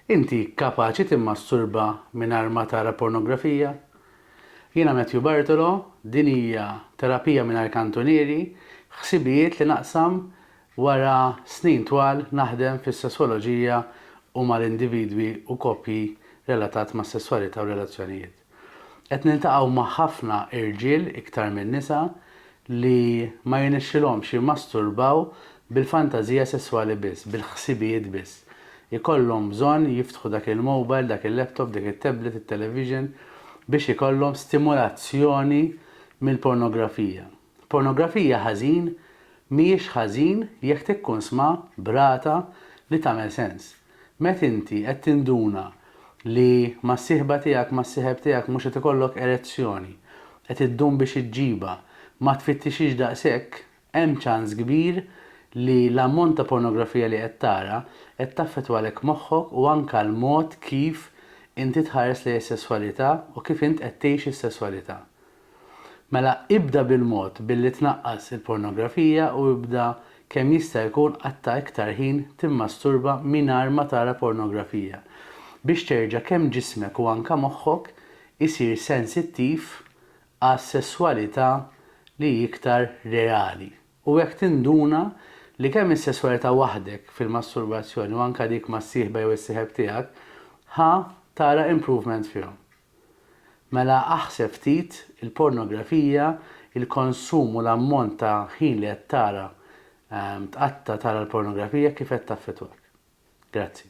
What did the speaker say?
Inti kapaċi timmasturba mingħajr ma tara pornografija? Jiena Matthew Bartolo, din hija Terapija Mingħajr Kantunieri, ħsibijiet li naqsam wara snin twal naħdem fis-sesswoloġija u mal-individwi u koppji relatat mas-sesswalità u relazzjonijiet. Qed niltaqgħu ma' ħafna irġiel iktar minn nisa li ma jirnexxilhomx jimmasturbaw bil-fantażija sesswali biss, bil-ħsibijiet biss. Ikollhom bżonn jiftħu dak il-mowbajl, dak il-laptop, dik it-tablet, it-television biex ikollhom stimulazzjoni mill-pornografija. Pornografija ħażin mhijiex ħażin jekk tikkunsmha b'rata li tagħmel sens. Met inti qed tinduna li mas-sieħba tiegħek, mas-sieħeb tiegħek mhux qed ikollok erezzjoni, qed iddum biex iġġibha, ma tfittixhiex daqshekk, hemm ċans kbir li l-ammont ta' pornografija li qed tara qed taffettwalek moħħok u anke l-mod kif inti tħares lejn is-sesswalità u kif int qed tgħix is-sesswalità. Mela ibda bil-mod billi tnaqqas il-pornografija u ibda kemm jista' jkun qatta' iktar ħin timmasturba mingħajr ma tara pornografija biex terġa' kemm ġismek u anke moħħok isir sensittiv għas-sesswalità li hi iktar reali u hekk tinduna li kemm is-sesswalità waħdek fil-masturbazzjoni u anke dik mas-sieħba jew is-sieħeb tiegħek ħa tara improvement fihom. Mela aħseb ftit, il-pornografija, il-konsum u l-ammont ta' ħin li qed tara, tqatta' tara l-pornografija kif qed taffettwak? Grazzi.